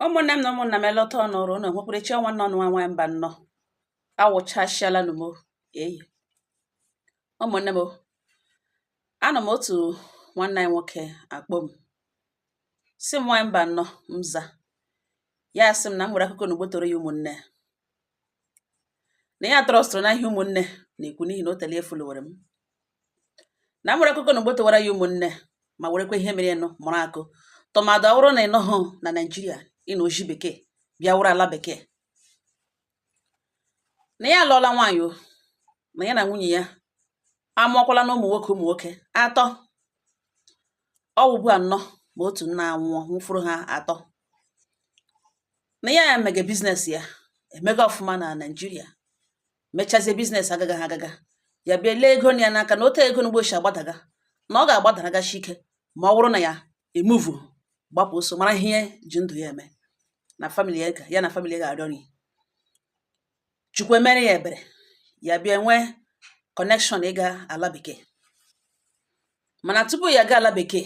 ụmụnne m na ụmụnna m elọta ọnụ ọrụ ụnụ nwekwara chi ọ nwanne ụnụ nwa nwaanyị mbanọ awụchasịala nụ m eyi ụmụnne m anọ m otu nwanne anyị nwoke akpọ m sị m nwaanyị mbanọ m za ya sị m na m nwere akụkọ na m gbotoro ya ụmụnne na ya trọstụrụ na ihe ụmụnne na-ekwu n'ihi na o tele e folowere m na nwere akụkọ na m gbotowara ya ụmụnne ma werekwa ihe merenụ mụrụ akọ tụmadụ ọ wụrụ na ị nọhụ na naijiria ịna oji bekee bịa wụrụ ala bekee na ya alụọla nwaanyị o na ya na nwunye ya amụọkwala na ụmụ nwoke ụmụ nwoke atọ ọ wụbu anọ ma otu nna anwụọ nwụfọrọ ha atọ na ya ya mege biznes ya emega ọfụma na naijiria mechazie biznes agaga ha agaga ya bịa lee ego ya n'aka na otu ego n'ugbo si agbadaga na ọ ga-agbadaragasi ike ma ọ bụrụ na ya emuvu gbapụ ọsọ mara ihe ji ndụ ya eme na famili ya ya na famili ya ga-arịọ nri chukwu emere ya ebere ya bịa nwee kọnekshọn ịga ala bekee mana tupu ya gaa ala bekee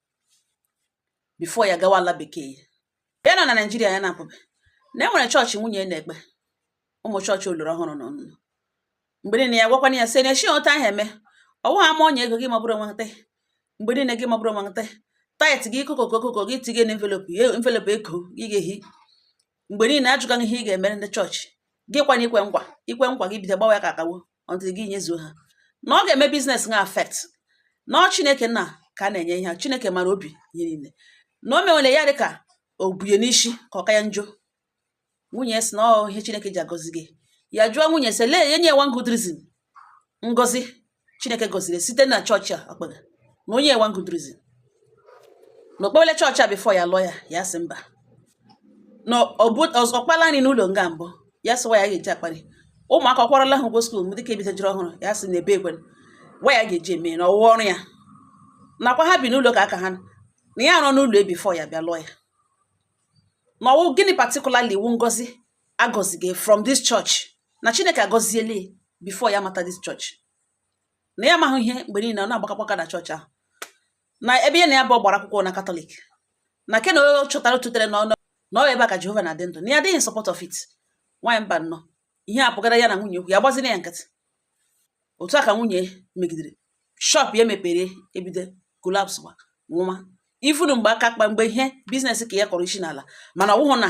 bifo ya gawa ala bekee ya nọ na naijiria ya na-apụbe na e nwere chọọchị nwunye ya na-ekpe ụmụ chọọchị oloro ọhụrụ na ọnụnụ mgbe niile ya gwakwana ya sị na echi otu ahụ eme ọ wụ ha ma onye ego gị mabụrụ wete mgbe niile gị mabụrụ wete tait gị kokoko kokoko gị tinye na envelop envelop ego gị ga-ehi mgbe niile a jụga gị ihe ị ga-emere ndị chọọchị gị kwanye i kwe nkwa i kwe nkwa gị bido gbawa ya ka akawo until gị nyezuo ha na ọ ga-eme biznes ha afekt na ọ chineke nna ka a na-enye ihe chineke mara obi ihe niile na o mewere ya dịka o bunye n'isi ka ọ ka ya njọ nwunye sị na ọ ihe chineke ji agọzi gị ya jụọ nwunye sị lee enye one good reason ngozi chineke gọziri site na chọọchị a o kpega na o nye one good reason na o kpewele chọọchị a bifo ya lụọ ya ya sị mba na ọ kpala nri n'ụlọ nga mbụ ya sịwa ya ga-eji akpali ụmụaka ọ kwụrụla ha ụgwọ skuul m dịka ebitajiri ọhụrụ ya sị na ebe ekwe wa ya ga-eji eme na ọwụwa ọrụ ya nakwa ha bi n'ụlọ nke aka ha na ya arụọla ụlọ bifo ya bịa lụọ ya na ọ wụ gịnị patikulali wụ ngozi agọzige from this church na chineke agọziele bifo ya mata this church na ya amaghị ihe mgbe niile ọ na-agbakọkwa na chọọchị ahụ na ebe ya na ya bụ gbara akwụkwọ na katọlik na ke na o chọtara o tutere na na ọ ebe a ka jehova na-adị ndụ na ya adịghị sọpọt of it nwaanyị mbanọ ihe a pụgara ya na nwunye okwu ya gbazina ya nkịtị otu a ka nwunye megidere shọp ya mepere ebido kolapswa nwụma ị fụnụ mgbe aka kpa mgbe ihe biznes nke ya kọrọ isi n'ala mana ọ wụhụ na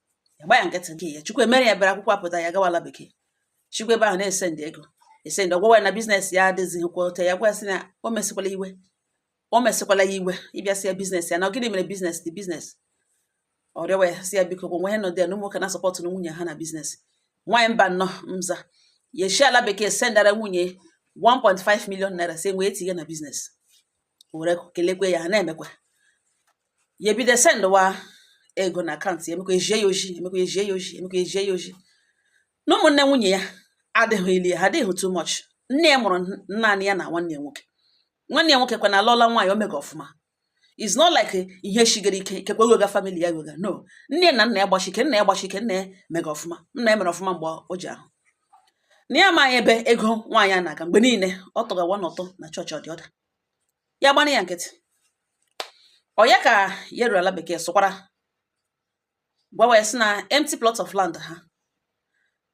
ya gba ya nkịtị nke ya chukwu emere ya bịara akwụkwọ apụta ya gawala bekee chukwu ebe ahụ na-esendi ego esendi ọ gwawa ya na biznes ya adịzighị kwa ote ya gwa sị na o mesịkwala iwe o mesịkwala ya iwe bịa sị ya biznes ya na gịnị mere biznes the biznes ọ rịọwa ya sị ya biko gwa nwa ya nọdụ ya na ụmụ nwoke na-asọpọtụ na nwunye ha na biznes nwaanyị mbano mza ya eshi ala bekee sendara nwunye 1.5 million naira sị ya wee tinye na biznes were kelekwe ya ha na-emekwa ya ebido sendwa ego na akaụntụ ya emekwa ejie ya oji emekwa ejie ya oji emekwa ejie ya oji na ụmụnne nwunye ya adịghị ili ha adịghị too much nne ya mụrụ naanị ya na nwanne ya nwoke nwanne ya nwoke kwanụ alụọla nwaanyị o mega ọfụma is not like ihe shigara ike ikekwe wega famili ya wega no nne na nna ya gbashi ike nna ya gbashi ike nna ya mega ọfụma nna ya mere ọfụma mgbe o ji ahụ na ya amaghị ebe ego nwaanyị a na-aga mgbe niile ọ tụgawa n'ụtụ na chọọchị or the other ya gbana ya nkịtị ọ ya ka ya ruru ala bekee sụkwara gwawa ya sị na empty plot of land ha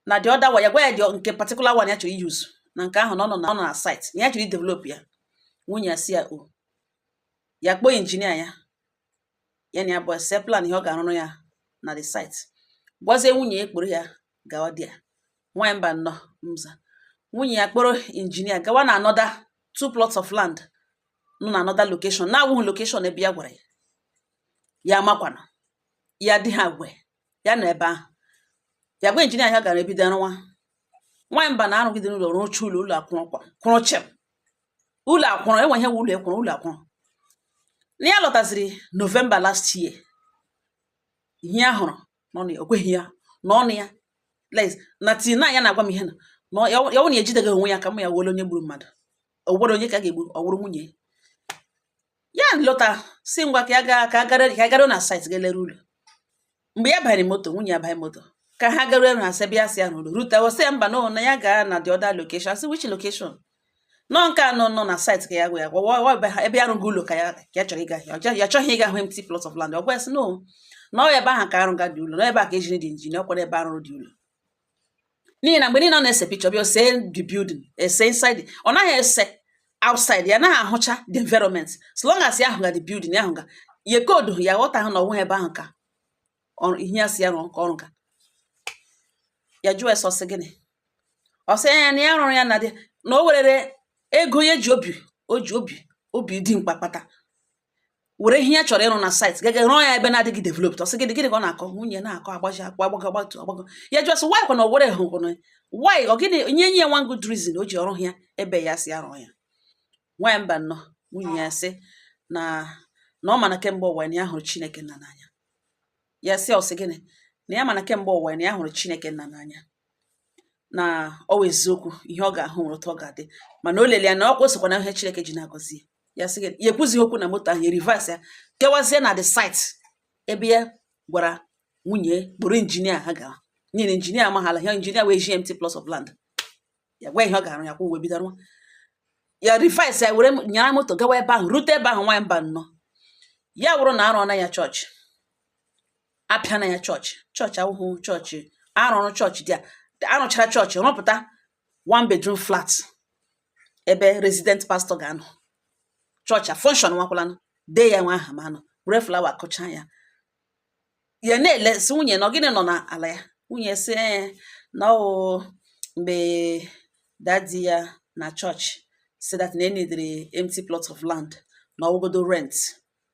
na the other one ya gwa ya the nke particular one ya chọrọ iyuzu na nke ahụ na ọ nọ na ọ nọ na site na ya chọrọ idevelop ya nwunye ya sị ya o ya kpọọ injinia ya ya na ya abụọ esee plan ihe ọ ga-arụrụ ya na the site gwazie nwunye ya kpọrọ ya gawa there nwaanyị mbano mza nwunye ya kpọrọ injinia gawa na another two plots of land nọ na another location na-awụghị location ebe ya gwara ya ya makwana ya dị ha gwe ya na ebe ahụ ya gwa injinia ya gaa bido rụwa nwaanyị mbano arụgide ụlọ rụcha ụlọ ụlọ akwụrụkwa kwụrụ chịm ụlọ akwụrụ e nwee ihe wụ ụlọ ịkwụrụ ụlọ akwụrụ na ya lọtaziri novemba last year ihe ya hụrụ no na o kweghị ya n'ọnụ ya na tears n'anya na-agwa m ihe na na ya wụ na ejideghị onwe ya kama ya wụrụ onye gburu mmadụ o nwere onye ka a ga-egbu ọ wụrụ nwunye ya lọta sị ngwa ka ya gaa ka a gara ka a gara na site gaa lere ụlọ mgbe ya banyere moto nwunye ya banye moto ka ha garuo ebe ha sị bịa sị ya n'ụlọ rute ọ sị ya mba na ya gara na the other location a sị which location no nke a nọ nọ na site ka ya gwa ya gwa ebe ya rụgo ụlọ ka ya ka ya chọrọ ịga ya chọghị ịga hụ empty plot of land ọ gwa ya sị no na ọ ebe ahụ ka a rụga the ụlọ na ebe a ka e jiri the injinia ọ kwara ebe a rụrụ the ụlọ n'ihi na mgbe niile ọ na-ese picture bịa o see the building ese inside ọ naghị ese outside ya naghị ahụcha the environment so long as ya ahụga the building ya ahụga ya ka ọ dị ya ghọtahụ na ọ wụghị ebe ahụ ka ihe ya sị ya rụọ ka ọ rụga ya jụọ ese ọ sị gịnị ọ sị ya na ya rụrụ ya na dị na o werere ego ya ji obi o ji obi obi dimkpa kpata were ihe ya chọrọ ịrụ na site gaga rụọ ya ebe na-adịghị developed ọ sị gịnị gịnị ka ọ na-akọ nwunye na-akọ agbaji akpọ agbago agbatu agbago ya jụọ sị why kwa na o were hụ kwa na why ọ gịnị nye ya one good reason o ji ọrụ ya ebe ya sị a rụọ ya nwaanyị mba nnọọ nwunye ya sị na na ọ ma na kemgbe ụwa na ya hụrụ chineke nna n'anya ya sị ọ sị gịnị na ya ma na kemgbe ụwa na ya hụrụ chineke nna n'anya na ọ wụ eziokwu ihe ọ ga-ahụ nwere otu ọ ga-adị mana o lele ya na ọ kwụsịkwa na ihe Chineke ji na-agọzi ya sị gịnị ya ekwuzighị okwu na moto ahụ ya reverse ya kewazie na the site ebe ya gwara nwunye kpọrọ injinia ha gara nyere injinia amaghara ihe injinia wee ji empty plot of land ya gwa ihe ọ ga-arụ ya ka o wee bido rụwa ya reverse ya were nyara moto gawa ebe ahụ rute ebe ahụ nwaanyị mba nnọọ ya wụrụ na arụọ na ya chọọchị apịa na ya chọọchị chọọchị a wụhụ chọọchị a rụrụ chọọchị dị arụchara chọọchị rụpụta one bedroom flat ebe resident pastọ ga-anọ chọọchị a functionwakwalanụ dee ya nwa aha ma anọ were flawa kụcha ya ya na-ele sị nwunye na gịnị nọ n'ala ya nwunye sị na ọ wụ mgbe dadi ya na chọọchị sị that na e needịrị empty plot of land na ọ wụgodo rent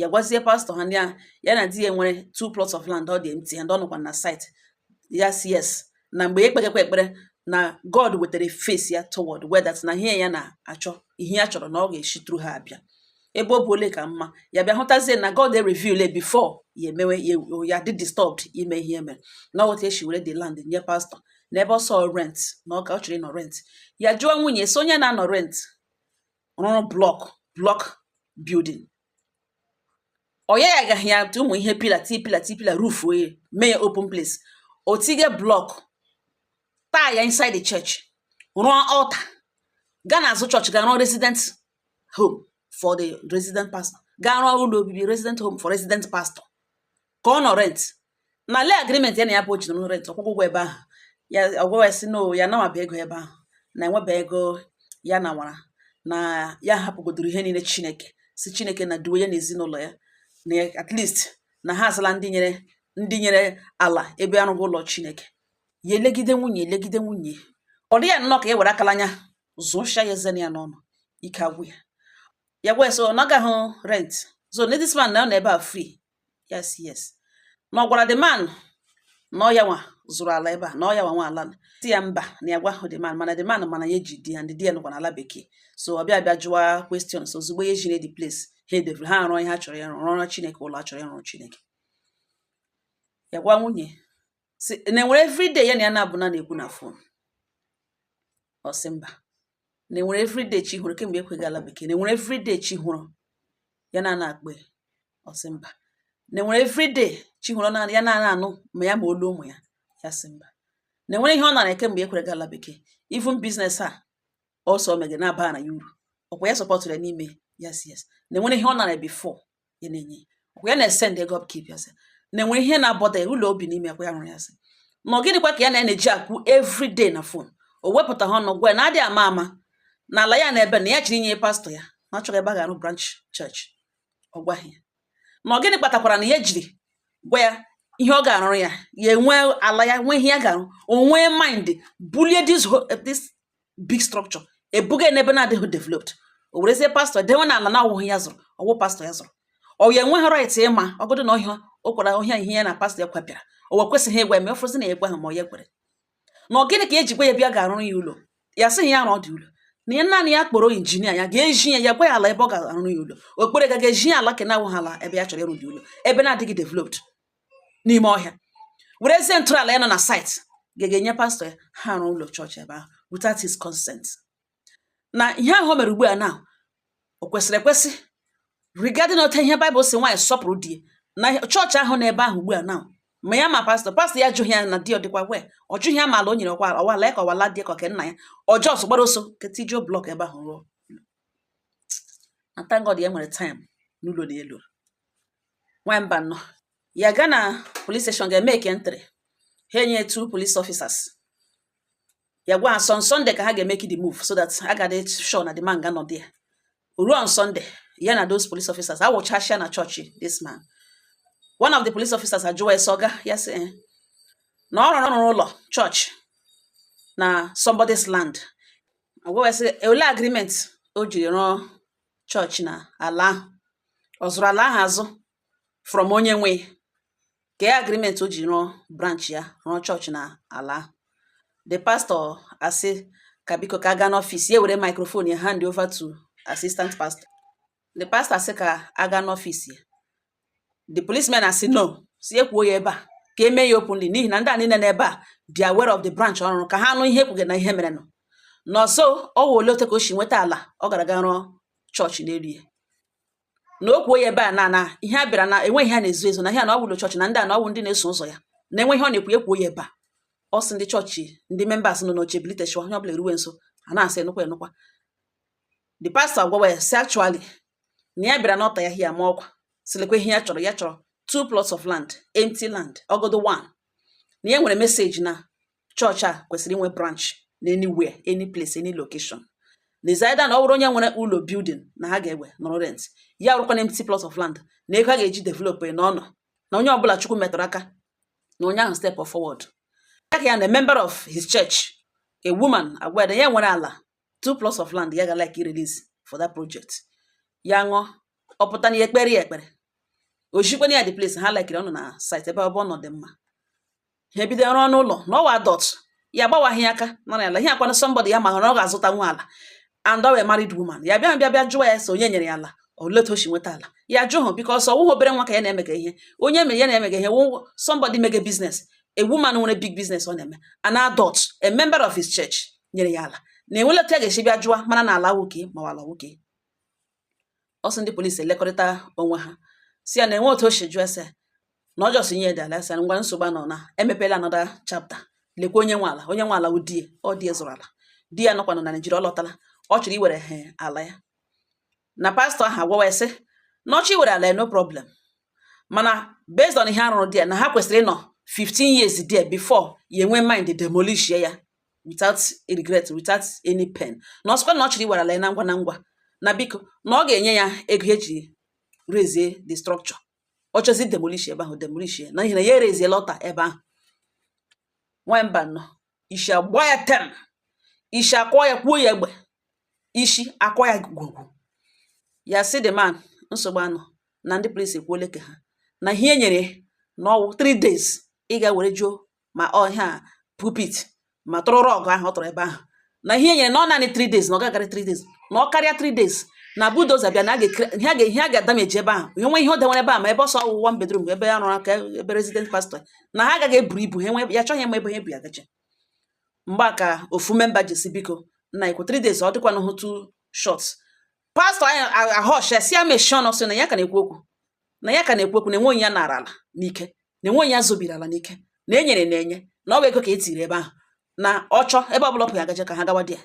ya gwazie pastọ ha ndị ahụ ya na di ya nwere two plots of land ọ dị empty and ọ nọkwa na site ya sị yes na mgbe ya ekpegekwa ekpere na God wetara face ya toward where that na ihe ya na-achọ ihe ya chọrọ na ọ ga-esi through ha abịa ebe ọ bụla ka mma ya bịa hụtazie na God reveal before ya emewe ya dị disturbed ime ihe mere na otu e si were the land nye pastọ n'ebe ọ sọ rent na ọ ka ọ chọrọ ịnọ rent ya jụọ nwunye so onye na-anọ rent rụrụ blọk blọk bildin ọ ya agaghị ya tụ ụmụ ihe pillar to pillar to pillar roof o wee mee ya open place o tige blọk tile ya inside the church rụọ altar gaa n'azụ chọọchị ga rụọ resident home for the resident pastor ga rụọ ụlọ obibi resident home for resident pastor ka ọ nọ rent na le agreement ya na ya bụ o ji nọ rent ọ kwụkwa ụgwọ ebe ahụ ya ọgwụwa sị no ya nawaba ego ebe ahụ na enweba ego ya nawara na ya hapụgodoro ihe niile chineke sị chineke na duwe ya na ezinụlọ ya na at least na ha azala ndị nyere ndị nyere ala ebe a rụrụ ụlọ chineke ya elegide nwunye elegide nwunye ọ dị ya nnọọ ka e were akala anya zụcha ya eze nọ ya n'ọnụ ike agwụ ya ya gwa so ọ nagaghị rent so na this man na ọ nọ ebe a free yes yes na ọ gwara the man na ọ ya nwa zụrụ ala ebe a na ọ ya nwa nwe ala sị ya mba na ya gwahụ the man mana the man mana ya ji di and di ya nọkwa n'ala bekee so ọ bịa bịa jụwa questions ozugbo ya ejire the place ha edevelop ha arụọ ihe ha chọrọ ya rụọ rụọrọ chineke ụlọ a chọrọ ịrụrụ chineke ya gwa nwunye si na enwere everyday ya na ya na-abụ na na-ekwu na fon ọ sị mba na enwere everyday chi hụrụ kemgbe ya kwaga ala bekee na enwere everyday chi hụrụ ya na na-akpọ ya ọ sị mba na enwere everyday chi hụrụ na ya na-ana anụ ma ya ma olu ụmụ ya ya sị mba na enwere ihe ọ nara kemgbe ya kwara gaa ala bekee even biznes a ọsọ mege na-aba na ya uru ọkwa ya sọpọtụrụ ya n'ime yes yes na enwere ihe ọ nara before ya na-enye ya na-esend ego upkeep ya sị na enwere ihe na-abọda ụlọ obi n'ime kwa ya nwere ya sị na ọ gịnịkwa ka ya na na-eji ekwu everyday na fon o wepụtaha ọnụ gwa ya na adịghị ama ama na ala ya na ebe na ya chọrọ inye pastọ ya na ọ chọrọ ebe a ga-arụ branch chọọchị ọ gwaghị ya na ọ gịnị kpatakwara na ya jiri gwa ya ihe ọ ga-arụrụ ya ya enwe ala ya nwee ihe ya ga-arụ o nwee mind bulie this big structure ebuga n'ebe na-adịghị developed o werezie pastọ dewe na ala na ọ wụghị ya zụrụ ọ wụ pastọ ya zụrụ ọ ya enweghị right ịma ọgụdụ na ọhịa o kwara ọhịa ihe ya na pastọ ya kwapịara o we kwesịghị ịgwa ya ma ọfụzi na ya egwa ha ma ọ ya kwere na ọ gịnị ka ya ji gwa ya bịa ga-arụrụ ya ụlọ ya sịghị ya rụọdị ụlọ na ihe naanị ya kpọrọ injinia ya ga-ezi ya ya gwa ya ala ebe ọ ga-arụ ya ụlọ ọ kpọrọ ya ga-ezi ya ala ke na-awụghị ala ebe ya chọrọ ịrụdị ụlọ ebe na-adịghị developed n'ime ọhịa werezie ntọala ya nọ na city ga-enye pastọ ya ha rụọ ụlọ chọọchị ebe ahụ without his consent na ihe ahụ o mere ugbu a na o kwesịrị ekwesị regarding otu ihe Bible si nwaanyị sọpụrụ di na chọọchị ahụ n'ebe ahụ ugbu a na ma ya ma pastọ pastọ ya ajụghị ya na di ọ dịkwa aware ọ jụghị ya ma ala o nyere ọkwa ọ wụ ala ya ka ọ wụ ala di ka ọ ke nna ya ọjọọ ọsọ gbara ọsọ ga tijuo blọk ebe ahụ rụọ na thank God ya nwere taịm n'ụlọ n'elu nwamba nọ ya ga na police station ga-emeki entry ha enye two police officers ya gwa ha on Sunday ka ha ga-emeki the move so that a ga-adị sure na the man ga-anọ there ruo on Sunday ya na those police officers awụchasịa na chọọchị this man one of the police officers ajụwa ya sị ọga ya sị eh, na ọ rụrụ rụrụ ụlọ chọọchị na somebody's land agwa ya sị ole agreement o jiri rụọ chọọchị na ala ahụ ọ zụrụ ala ahụ azụ from onye nwe ya kee agreement o ji rụọ branch ya rụọ chọọchị na ala ahụ the pastor asị ka biko ka a gaa n'ọfịs ya were microphone ya hand over to assistant pastor the pastor asị ka a gaa n'ọfịs ya the policemen asị no sị ya kwuo ya ebe a ka e mee ya openly n'ihi na ndị a niile n'ebe a dị aware of the branch ọ rụrụ ka ha nụ ihe e kwuge na ihe merenụ n'ọsọ ọ wụ ole ote ka o si nweta ala ọ gara ga rụọ chọọchị n'elu ya na o kwuo ya ebe a na na ihe a bịara na enweghị ihe a na-ezo ezo na ihe a na ọ wụ ụlọ chọọchị na ndị a na ọ wụ ndị na-eso ụzọ ya na enweghị ọ na-ekwu ekwuo ya ebe a ọ sị ndị chọọchị ndị members nọ n'oche bilitechaa onye ọbụla eruwe nso a na-asị enụkwa enụkwa the pastor gwawa ya sị actually na ya bịara n'altar ya hia ma ọkwa sị lekwa ihe ya chọrọ ya chọrọ two plots of land empty land ọgodo one na ya nwere message na chọọchị a kwesịrị inwe branch na anywhere any place any location na is either na ọ bụrụ onye nwere ụlọ building na ha ga-ewe nọrọ rent ya bụrụkwa na empty plot of land na ego a ga-eji develop na ọ nọ na onye ọbụla chukwu metụrụ aka na onye ahụ step forward ya ka ya na a member of his church a woman agwa ya na ya nwere ala two plots of land ya ga like release for that project ya ṅụọ ọ pụta na ya ekpere ya ekpere ojikwana ya the place ha likiri ọnụ na site ebe ọbụ ọ nọ dị mma ha ebido ọrụ ọnụ ụlọ na ọ wụ adult ya gbawaghị aka nara ala ihe akwana somebody ya ma hụrụ ọ ga-azụtanwu ala and ọ wụ a married woman ya bịa bịa bịa jụwa ya sị onye nyere ya ala olee otu o si nweta ala ya ajụhụ because ọ wụghị obere nwa ka ya na-emega ihe onye mere ya na-emega ihe wụ somebody mega business a woman nwere big business ọ na-eme an adult a member of his church nyere ya ala na enwele otu a ga-esi bịa jụọ mana na ala nwoke ma ala nwoke ọ sị ndị polisi elekọrịta onwe ha sị ya na enwe otu o si jụọ ese na ọ jọsị nye dị ala ese ngwa nsogbu nọ na emepela anọda chapta lekwa onye nwe ala onye nwe ala wụ di ya ọ di ya zụrụ ala di ya nọkwanụ na Naịjirịa ọ lọtala ọ chọrọ iwere he ala ya na pastọ ahụ agwawa ya sị na ọ chọọ iwere ala no problem mana based on ihe a rụrụ there na ha kwesịrị ịnọ 15 years there before ya enwe mind demolish ya without regret without any pain na ọ sịkwa na ọ chọrọ iwere ala ya na ngwa na ngwa na biko na ọ ga-enye ya ego e ji raise the structure ọ chọzie demolish ebe ahụ demolish ya na ihe na ya e-raise altar ebe ahụ nwamba nọ isi agba ya tem isi akwọ ya kwuo ya egbe ishi akwa ya gwugwu ya sị the man nsogbu anọ na ndị polisi ekwuole nke ha na ihe e nyere na ọ wụ 3 days ị ga were juo ma ọ ihe a pulpit ma tụrụ rug ahụ ọ tụrụ ebe ahụ na ihe e nyere na ọ naanị 3 days na ọ gagarị 3 days na ọ karịa 3 days na bulldozer bịa na ihe a ga-adameji ebe ahụ e nwee ihe o dewere ebe a ma ebe ọsọ ọ wụ one bedroom ebe a rụrụ aka ebe resident pastọ na ha agaghị eburu ibu ha nwe ya achọghị ịma ebe ha ebu ya gaje mgbe a ka ofu memba ji sị biko nna ikwu 3 days ọ dịkwanụ hụ too short pastọ anyị a-hush ya sị ya mechie ọnụ sị na ya ka na-ekwu okwu na ya ka na-ekwu okwu na enwe onye ya nara ala n'ike na enwe onye ya zobiri ala n'ike na e nyere ya enye na ọ bụ ego ka e tiri ebe ahụ na ọ chọọ ebe ọ bụla ọ wụ ya agaje ka ha gawa di ya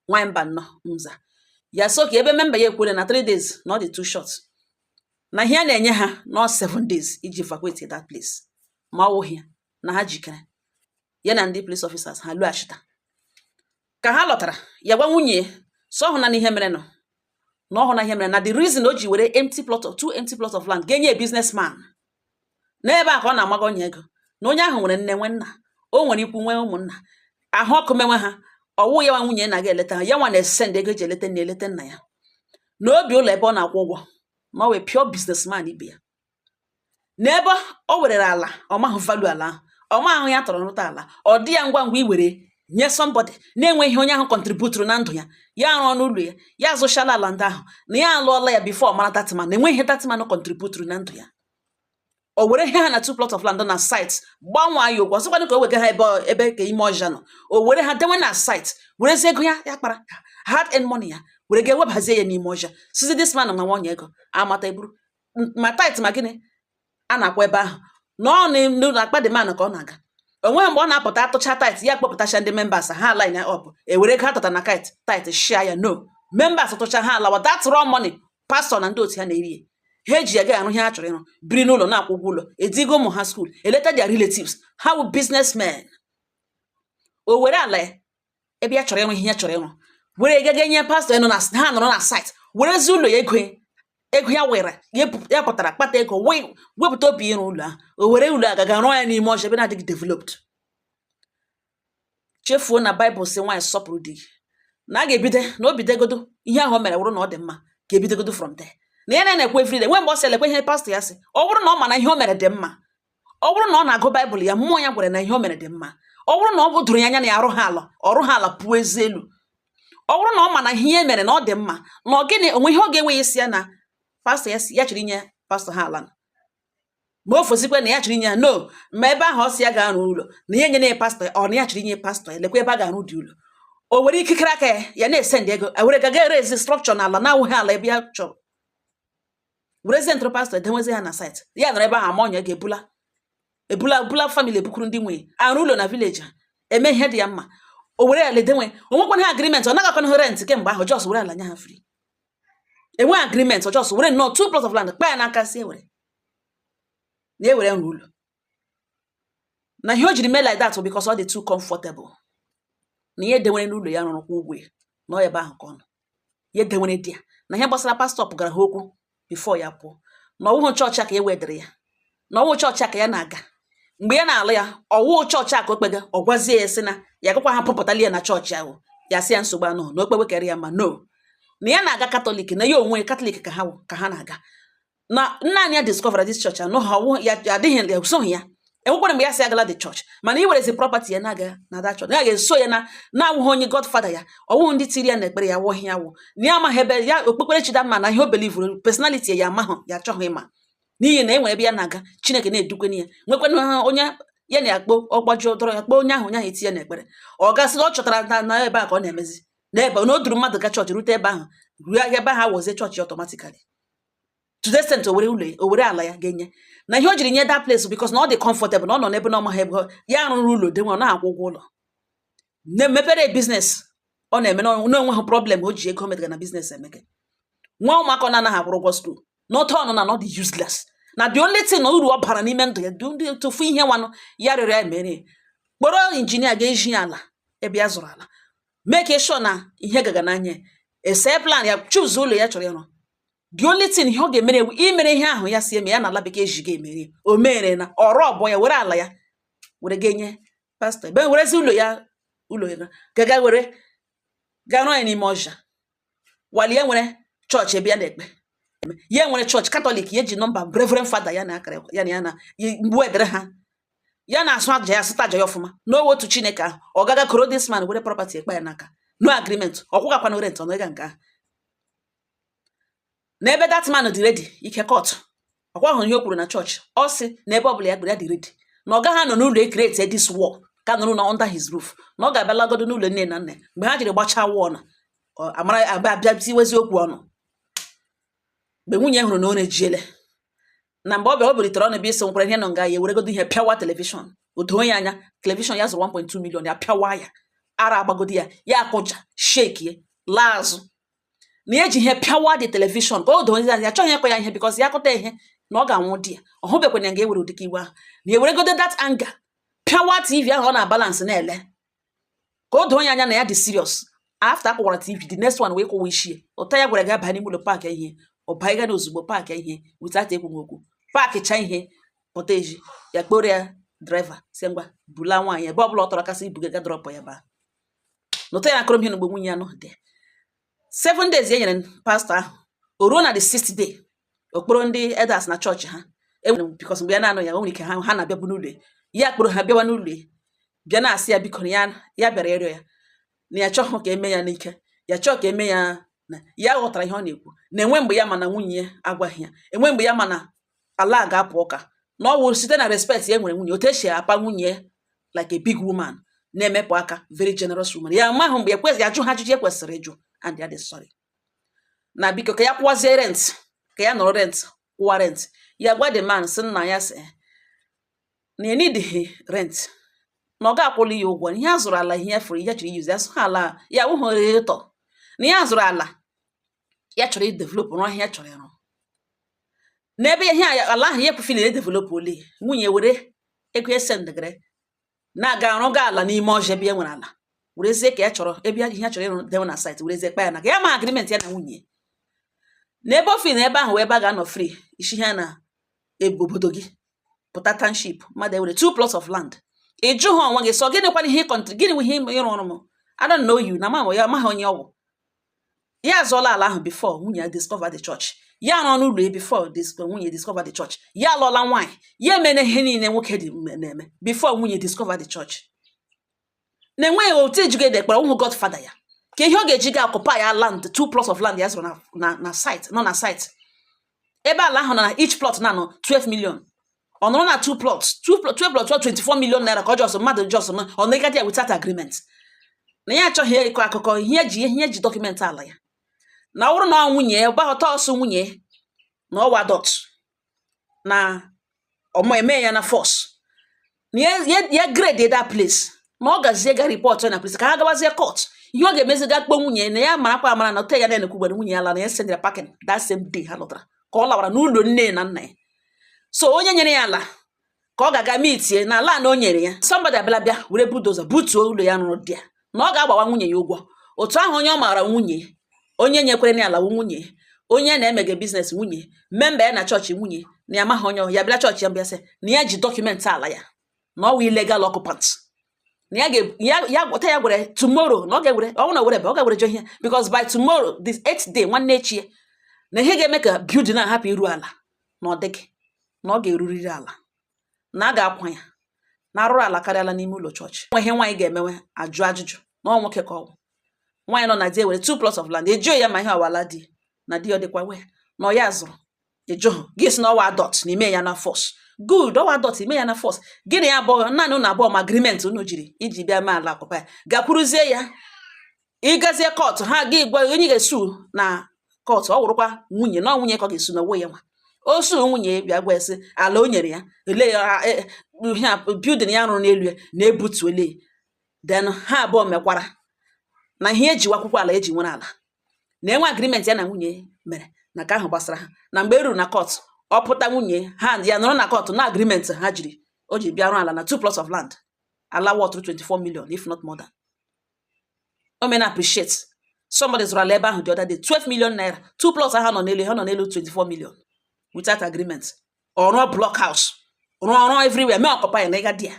nwanyị mba nnọọ nza ya sị okay ebe memba ya ekwere na 3 days na ọ dị too short na ihe a na-enye ha nọ 7 days iji evacuate that place ma ọ wụghị ya na ha jikere ya na ndị police officers ha lụghachita ka ha lọtara ya gwa nwunye so ọ hụ na n'ihe mere no na ọ hụ na ihe mere na the reason o ji were empty plot of two empty plot of land ga-enye business man n'ebe a ka ọ na-amaga onye ego na onye ahụ nwere nne nwe nna o nwere ikwu nwee ụmụnna ahụ ọkụ menwe ha ọwụ ya nwa nwunye na-aga eleta ha ya nwa na-esend ego eji eleta nne eleta nna ya na o bi ụlọ ebe ọ na-akwụ ụgwọ ma ọ wụ pure business man ibe ya n'ebe o wèrèlà àlà ọ̀ maghụ value àlà ahụ̀ ọ̀ maghụ ihe atọ̀rọ̀ nrụta àlà ọ̀ dị ya ngwa ngwa i wère nye somebody na-enweghi ihe onye ahụ̀ contributuru na ndụ̀ ya ya arụọ n'ụlọ̀ ya ya azụchala àlà ndị ahụ̀ nà ya alụọla ya before ọ̀ mara that man nà enweghi ihe that man contributuru na ndụ̀ ya ò wère ihe ha nà two plot of land nọ nà site gbanwaa ya ọkụ ọ̀ sịkwanu kà o wèga ha ebe ọ̀ ebe kà ime ọzhịa nọ̀ ò wère ha dewe nà site wèrezie ego ya ya kpara hard earned money ya wère ga webàhazie ya n'ime ọzhịa sịzie this man nà ma nwanyị egō àmata eburu ma tithe ma gịnị a na-akwa ebe ahụ na ọ n'akpa the man ka ọ na-aga onweghị mgbe ọ na-apụta atụcha tithe ya kpọpụtacha ndị members ha line up ewere ego atụta na tithe share ya no members tụcha ha alawa that raw money pastọ na ndị otu ha na-eri ya ha eji ya ga arụ ihe ha chọrọ ịrụ biri n'ụlọ na-akwụ ụgwọ ụlọ edigo ụmụ ha school eleta their relatives ha wụ businessmen o were ala ya ebe ya chọrọ ịrụ ihe ya chọrọ ịrụ were gaga nye pastọ ya nọ na ha nọrọ na site werezi ụlọ ya ego ego ya were ya pụtara kpata ego wee wepụta obi ịrụ ụlọ ahụ o were ụlọ a gaga rụọ ya n'ime ọzhịa ebe na-adịghị developed chefuo na baịbụl sị nwaanyị sọpụrụ di gị na a ga-ebido na o bidogodo ihe ahụ o mere wụrụ na ọ dị mma ga-ebidogodo from there na ya na-ekwu everyday nwe mgbe ọ sị elekwe ihe pastọ ya sị ọ wụrụ na ọ ma na ihe o mere dị mma ọ wụrụ na ọ na-agụ baịbụl ya mmụọ ya gwara na ihe o mere dị mma ọ wụrụ na ọ bụ doro ya anya na ya arụ ha ala ọrụ ha ala pụọ ezi elu ọ wụrụ na ọ ma na ihe e mere na ọ dị mma na ọ gịnị onwe ihe ọ ga-enwe ya isi ya na pastọ ya sị ya chọrọ inye pastọ ha ala ma o fosikwe na ya chọrọ inye ya no ma ebe ahụ ọ sị ya ga-arụ ụlọ na ihe nyere ya pastọ ọ na ya chọrọ inye pastọ ya lekwa ebe a ga-arụdị ụlọ o were ikikere aka ya ya na-esend ego e were gaga eraise structure na ala na-awụghị ala ebe ya chọrọ werezi ndị ọrụ pastọ edenwezi ha na site ya nọrọ ebe ahụ ama onye ga-ebula ebula bula family ebukuru ndị nwunye arụ ụlọ na village ha eme ihe dị ya mma o were ala edenwe onwekwana ha agreement ọ naghị ha rent kemgbe ahụ just were ala nye ha free enwe agreement ọ just were nnọọ two plot of land kpa ya n'aka sị ewere na ewere nrụ ụlọ na ihe o jiri mee like that bụ because ọ dị too comfortable na ihe denwere n'ụlọ ya rụrụ kwa ụgwọ ya na ọ ebe ahụ ka ọ nọ ya edewere di ya na ihe gbasara pastọ pụgara ha okwu before ya pụọ na ọwụhụ chọọchị a ka e wedịrị ya na ọwụ chọọchị a ka ya na-aga mgbe ya na-alụ ya ọwụ chọọchị a ka o kpega ọ gwazie ya sị na ya gakwa ha pụpụtali ya na chọọchị ahụ ya sị ya nsogbu anọhụ na o kpewe karị ya ma no na ya na-aga katọlik na ya onwe katọlik ka ha ka ha na-aga na nna anyị ya discover this church anọ ha ọwụ ya ya adịghị ya esoghị ya enwekwara mgbe ya si agala the church mana i werezi property ya na-aga na that church ya ga-eso ya na na-awụghị onye godfather ya ọwụ ndị tiri ya na ekpere ya wụghị ya wụ na ya amaghị ebe ya okpukperechi dị mma na ihe o belivuru personally ya amaghị ya achọghị ịma n'ihi na e nwere ebe ya na-aga chineke na-edukweni ya nwekwana ha onye ya na-akpọ ọgbaji ụdọrọ ya kpọọ onye ahụ onye ahụ etie ya n'ekpere ọ ga-asị na ọ chọtara na na ebe a ka ọ na-emezi n'ebe na o duru mmadụ ga chọọchị rute ebe ahụ ruo ebe ahụ awụzie chọọchị automatically to the extent o were ụlọ ya o were ala ya ga-enye na ihe o jiri nye that place because na ọ dị comfortable na ọ nọ n'ebe na ọ maghị ebe ọ- ya rụrụ ụlọ dị nwa ọ na-akwụ ụgwọ ụlọ na mepere business ọ na-eme na ọ- na onweghị problem o ji ego o metara na business emeke nwa ụmụaka ọ na-anaghị akwụrụ ụgwọ school n'otu ọnụ na na ọ dị useless na the only thing na uru ọ bara n'ime ndụ ya dị ndị tụfu ihe nwanụ ya rịọrọ ya mere ya. kpọrọ injinia ga-ezi ya ala ebe ya zụrụ ala make sure na ihe gaga n'anya ya. ese plan ya choose ụlọ ya chọrọ ịrụ the only thing ihe ọ ga-emere ya wụ imere ihe ahụ ya si eme ya na ala bekee ji ga-emere o mere na ọrụ ọ bụ ya were ala ya were ga-enye pastọ ebe werezi ụlọ ya ụlọ ya gaga were gaa rụọ ya n'ime ọhịa while ya nwere chọọchị ebe ya na-ekpe ya nwere chọọchị katọlik ya ji nọmba reverend fada ya na akara ya na ya na mgbe edere ha ya na-asụ aja ya sụta aja ya ọfụma na ọ wụ otu chineke ahụ ọ gaga kpọrọ this man were property ekpe ya n'aka no agreement ọ kwụgakwana rent n'ịga nke ahụ n'ebe that man dị ready ike kọtụ ọkwa ahụ ihe o kwuru na chọọchị ọ sị na ebe ọbụla ya gbere ya dị ready na ọ gaghị anọ n'ụlọ ekreti this wall ka nọrọ na under his roof na ọ ga-abịa lagodo n'ụlọ nne na nna mgbe ha jiri gbachaa wall ọnụ amara abịa abịa tiwezi okwu ọnụ mgbe nwunye hụrụ na ọ na-ejiele na mgbe ọ bịa o bilitere ọnụ bịa ịsị nkwara ihe nọ nga ya eweregodo ihe pịawa telivishọn o doo ya anya telivishọn ya zụrụ 1.2 million ya pịawa ya ara agbagodi ya ya akụja shekie laa azụ na ya ji ihe pịawa the television ka o doo ndị ya achọghị ịkụ ya ihe because ya kụta ihe na ọ ga-anwụ di ya ọ hụbekwanye nga ewere ụdịka iwe ahụ na eweregodo that anger pịawa tv ahụ ọ na-abalansị na-ele ka o doo onye anya na ya dị serious after akụwara tv the next one wee kụwa ichie ụta ya gwara gị abanye n'ime ụlọ pack ihe ọ banye na ozugbo pack ihe without ekwughị okwu pack cha ihe pụta eji ya kpọrọ ya driver sị ngwa bula nwaanyị ebe ọ bụla ọ chọrọ kasị ibuga ga drọpụ ya baa nụta ya akọrọ m ihe na mgbe nwunye ya nọ the seven days e nyere pastọ ahụ o ruo na the sixth day ọ kpọrọ ndị elders na chọọchị ha enwere because mgbe ya na-anọ ya o nwere ike ha ha na-abịabu n'ụlọ ya kpọrọ ha bịawa n'ụlọ bịa na-asị ya biko ya ya bịara ịrịọ ya na ya achọghị ka eme ya n'ike ya chọọ ka eme ya na ya ghọtara ihe ọ na-ekwu na enwe mgbe ya mana nwunye ya agwaghị ya enwe mgbe ya mana ala ga-apụ ụka na ọ wụrụ site na respect ya nwere nwunye otu esi apa nwunye like a big woman na-emepụ aka very generous woman ya mahụ mgbe ekwesị ajụ ha ajụjụ ekwesịrị ịjụ and ya dị sorry na biko ka ya kwụwazie rent ka ya nọrọ rent kwụwa rent ya gwa the man sị nna ya sị na ya needighi rent na ọ ga-akwụli ya ụgwọ ihe a zụrụ ala ihe ya furu ihe chọrọ iyuzi asụ ha ala ya wụhụ return ihe a zụrụ ala ya chọrọ idevelop rụọ ihe ya chọrọ ịrụ n'ebe ihe a ala ahụ ya ekwufi na edevelop ole nwunye were ego esendegere na-aga arụga ala n'ime ọzọ ebe e nwere ala werezie ka ya chọrọ ebe ihe ya chọrọ ịrụ dewe na site werezie kpa ya na ka ya ma agreement ya na nwunye n'ebe ofi na ebe ahụ wee ebe a ga-anọ free isi ihe na ebe obodo gị pụta township mmadụ ewere two plots of land ị jụhụ onwe gị sị ọ gịnịkwanụ ihe country gịnị nwe ihe ị rụrụ m I don't know you na ma ya amaghị onye ọ wụ ya azụọla ala ahụ before nwunye ya discover the church ya nọ n'ụlọ ya before nwunye discover the church ya alụọla nwaanyị ya emena ihe niile nwoke dị na-eme before nwunye discover the church na-enweghị otu ejigo ede kpara ụmụ godfather ya ka ihe ọ ga-eji ga occupy ya land two plots of land ya zụrụ na site nọ na site ebe ala ahụ na each plot na-anọ 12 million ọ nọrọ na two plots two plot 12 plot 24 million naira ka ọ just mmadụ just na ọ na-egadi ya without agreement na ya achọghị ịkọ akụkọ ihe eji ihe eji document ala ya na ọ bụrụ na ọ nwunye ya gbaghọta ọsọ nwunye ya na ọ wụ adult na ọmụ eme ya na force na ya ya- ya grade that place na ọ gazie ga report ya na police ka ha gawazie court ihe ọ ga-emezi ga kpọ nwunye ya na ya marakwa amara na otu ya na-ekwu gwara nwunye ya laa na ya sendịrị ya packing that same day ha lọtara ka ọ lawara n'ụlọ nne ya na nna ya so onye nyere ya ala ka ọ ga-aga mitie na ala na o nyere ya somebody abịala bịa were bulldozer butuo ụlọ ya rụrụ there na ọ ga-agbawa nwunye ya ụgwọ otu ahụ onye ọ maara nwunye onye nyekwere ya ala nwunye onye na-emege business nwunye member ya na chọọchị nwunye na ya maghị onye ọ wụ ya bịara chọọchị ya mbịa sị na ya ji document ala ya na ọ wụ illegal occupant na ya ga- ya ya gwọta ya gwere tomorrow na ọ ga-egwere ọ bụrụ na were ebe ọ ga-egwere jọ ihe because by tomorrow this eighth day nwanne echi ya na ihe ga-eme ka building a hapụ iru ala na ọ dịghị na ọ ga-eruriri ala na a ga-akwa ya na arụrụala karịala n'ime ụlọ chọọchị nwe ihe nwaanyị ga-emewe ajụ ajụjụ na ọ nwoke ka ọ bụ nwaanyị nọ na di ewere two plots of land ịjụhụ ya ma ihe ọ wụ ala di na di ọ dịkwa aware na ọ ya zụrụ ịjụhụ gị sị na ọ wụ adult na ime ya na force good ọ wụ adult ime ya na force gị na ya abụọ naanị ụnụ abụọ ma agreement unu jiri iji bịa mee ala akwụkwọ ya gakwuruzie ya ị gazie court ha ga gwa onye ga-esu na court ọ wụrụkwa nwunye na nwunye ka ọ ga-esu na onwe ya nwa o su nwunye bịa gwa esi ala o nyere ya ele ya e, ihe a building ya rụrụ n'elu ya na ebutuole then ha abụọ mekwara na ihe eji akwụkwọ ala eji nwere ala na enwe agreement ya na nwunye mere na ka ahụ gbasara ha na mgbe e ruru na court ọ pụta nwunye ha ya nọrọ na court na agreement ha jiri o ji bịa rụọ ala na two plots of land ala wọtụrụ 24 million if not more than o meela appreciate somebody zụrụ ala ebe ahụ the other day 12 million naira two plots ha nọ n'elu ha nọ n'elu 24 million without agreement ọ rụọ block house rụọ ọrụ everywhere mee occupy na ịga di ya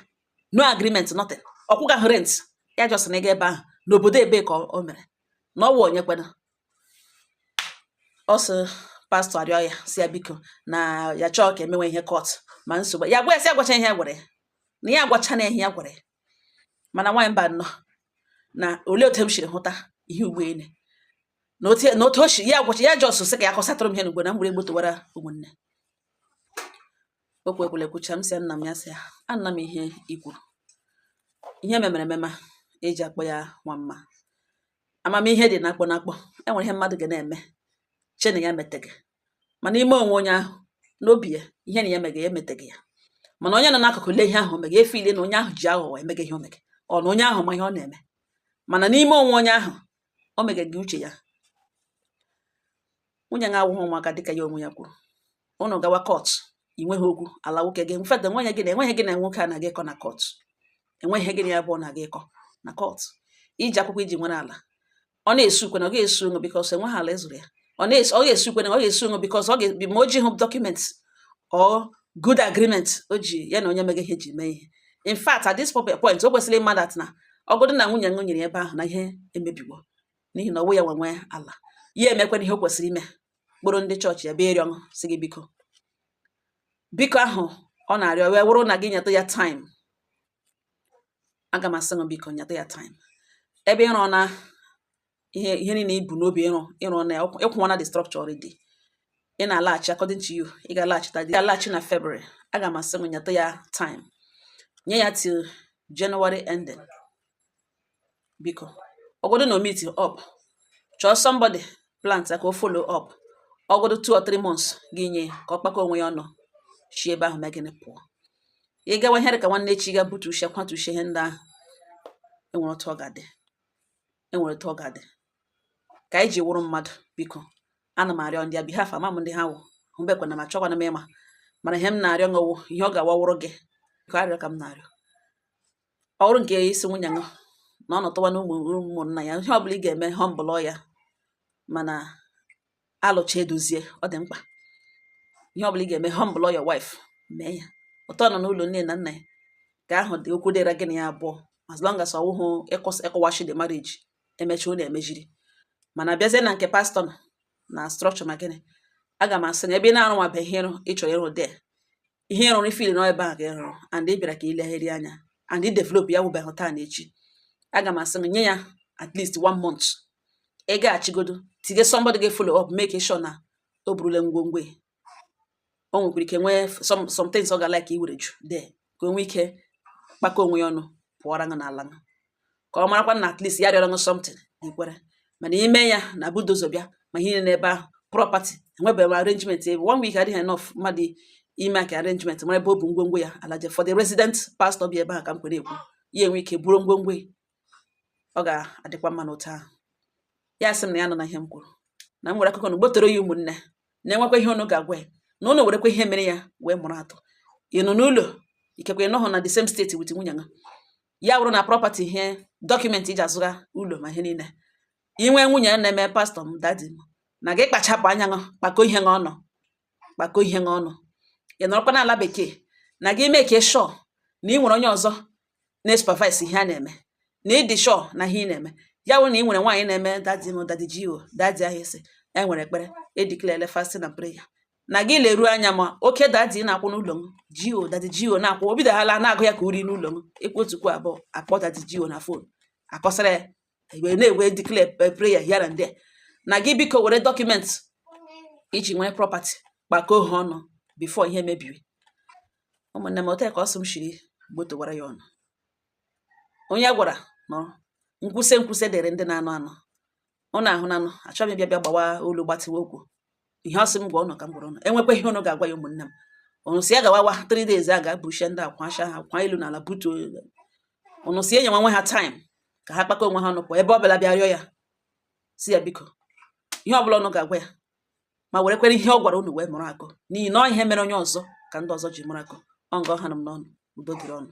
no agreement nothing ọ kwụgahụ rent ya just na ịga ebe ahụ n'obodo ebe ka o mere na ọ wụ onye kwena ọ sị pastor arịọ ya sị ya biko na ya chọọ ka emewe ihe court ma nsogbu ya gwa ya si agwacha ihe ya gwara ya na ya agwacha na ihe ya gwara ya mana nwaanyị mba nọ na olee otu m siri hụta ihe ugbene na otu na otu o si ya gwacha ya just sị ka ya kọsatụrụ m ihe n'ugbo na m were egbotowara ụmụnne okwu ekwule kwucha m sị ya nna m ya sị ya anna m ihe i kwuru ihe memere emema eji akpọ ya nwa mma amamihe dị n'akpọ n'akpọ enwere ihe mmadụ ga na-eme che na ya meteghị mana ime onwe onye ahụ n'obi ya ihe na ya mega ya emeteghị ya mana onye nọ n'akụkụ lee ihe ahụ o mega e feel na onye ahụ ji aghụghọ emega ihe o mega ọ na onye ahụ ma ihe ọ na-eme mana n'ime onwe onye ahụ o mega gị uche ya nwunye ṅụ awụghị ụmụaka dịka ya onwe ya kwuru ụnụ gawa court ị nweghị okwu ala nwoke gị in fact enweghị gị na enweghị gị na nwoke a na-aga ịkọ na court enweghị gị na ya bụ ọ na-aga ịkọ na court i ji akwụkwọ i ji nwere ala ọ na-esukwe na ọ ga-esu onwe because enweghị ala ezuru ya ọ na-esu ọ ga-esukwe na ọ ga-esu onwe because ọ ga-ebi ma o jihụ document or good agreement o ji ya na onye mega ihe ji mee ihe in fact at this point o kwesịrị ịma that na ọgụdụ na nwunye ṅụ nyere ebe ahụ na ihe emebiwo n'ihi na ọ wụ ya nwenwe ala ya emekwana ihe o kwesịrị ime kpọrọ ndị chọọchị ya bịa rịọ ṅụ sị gị biko biko ahụ ọ na-arịọ wee wụrụ na gị nyeta ya time a ga m asị gị biko nyata ya time ebe ị rụna ihe ihe niile i bu n'obi ịrụ ịrụ na ya ị kwụwana the structure already ị na-alaghachi according to you ị ga-alaghachita ị ga-alaghachi na February a ga m asị gị nyata ya time nye ya till January ending biko ọgwụdụ na o meet up chọọ somebody plant ka o follow up ọgwụdụ two or three months gị nye ka ọ kpakọ onwe ya ọnụ si ebe ahụ megịnị pụọ ị gawa ihe dị ka nwanne echi ga butucha kwatucha ihe ndị ahụ enwere otu ọ ga-adị enwere otu ọ ga-adị ka anyị ji wụrụ mmadụ biko ana m arịọ on their behalf ama m ndị ha wụ ahụbekwana m achọkwana m ịma mana ihe m na-arịọ ṅụ wụ ihe ọ ga-awawụrụ gị ka arịọ ka m na-arịọ ọ bụrụ nke ị si nwunye ṅụ na ọ nọtụwa na ụmụnna ya ihe ọbụla ị ga-eme humble ya mana alụcha edozie ọ dị mkpa ihe ọbụla ị ga-eme humble your wife mee ya ụtọ nọ n'ụlọ nne na nna ya ka ahụ dị okwu dịra gị na ya abụọ as long as ọ wụhụ ị quash the marriage emechi ọ na-emejiri mana bịazie na nke pastọ na structure ma gịnị aga m asị na ebe ị na-arụnwabeghị ihe ị chọrọ ịrụ there ihe ị rụrụ ị feel na ọ ebe ahụ ka ị rụrụ and ị bịara ka ị legharị anya and ị develop ya wụbeghị taa na echi aga m asị nye ya at least one month ị gaghachigodo tinye somebody ga follow up make sure na o burule ngwongwo ya. o nwekwara ike nwee some things ọ ga like iwere ju there ka o nwee ike kpakọ onwe ya ọnụ pụọra ṅụ n'ala ṅụ ka ọ marakwa na at least ya rịọrọ something i kwere mana ime ya na bulldozer bịa ma ihe n'ebe ahụ property enwebeghị arrangement ebe one week adịghị enough mmadụ i make arrangement mara ebe o bu ngwongwo ya alaje for the resident pastor bi ebe ahụ ka m kwere ekwu ya enwe ike buru ngwongwo ọ ga-adịkwa mma n'otu ahụ ya sị m na ya nọ na ihe m kwuru na m nwere akụkọ na gbotoro ya ụmụnne na-enwekwa ihe ụnụ ga-agwa ya na ụnụ werekwa ihe mere ya wee mụrụ akọ ị nọ n'ụlọ ikekwe ị nọghọ na the same state with nwunye ha ya wụrụ na property ihe document i ji azụga ụlọ ma ihe niile i nwee nwunye na-eme pastọ m dadi m na gị kpachapụ anya ṅụ kpakọ ihe ṅụ ọnụ kpakọ ihe ṅụ ọnụ ị nọrọkwa n'ala bekee na gị make sure na ị nwere onye ọzọ na-esupervise ihe a na-eme na ị dị sure na ihe ị na-eme ya wụrụ na ị nwere nwaanyị na-eme dadi m dadi G.O dadi ahụ isi enwere ekpere e declare fasting na prayer na gị leruo anya ma oke dadi na-akwụ n'ụlọ m G.O dadi G.O na-akwụ o bidoghala na-agụ ya ka uri n'ụlọ m ekwu otu kwuo abụọ akpọ dadi G.O na fon akọsara ya wee na-edeclare prayer here and there na gị biko were document i ji nwee property kpakọọ ha ọnụ before ihe mebiri ụmụnne m otu ka ọ sị m shiri gbotowara ya ụnụ onye a gwara nụrụ nkwusi nkwusi dịrị ndị na-anụ anụ ụnụ ahụnanụ achọghị m bịa bịa gbawa olu gbatịwa okwu ihe ọ sị m gwa ụnụ ka m gwara ụnụ enwekwa ihe ụnụ ga-agwa ya ụmụnne m ụnụ si ya gawawa three days a ga-abuchie ndị akwa asha ha kwa ilu n'ala butuo ụnụ si enye nwe ha time ka ha kpakọ onwe ha ọnụ pụọ ebe ọ bụla bịa rịọ ya si ya biko ihe ọ bụla ụnụ ga-agwa ya ma werekwere ihe ọ gwara ụnụ wee mụrụ akọ n'ihi na ọ ihe mere onye ọzọ ka ndị ọzọ ji mụrụ akọ ọ nga ọ ha nọ m n'ọnụ udo dịrị ụnụ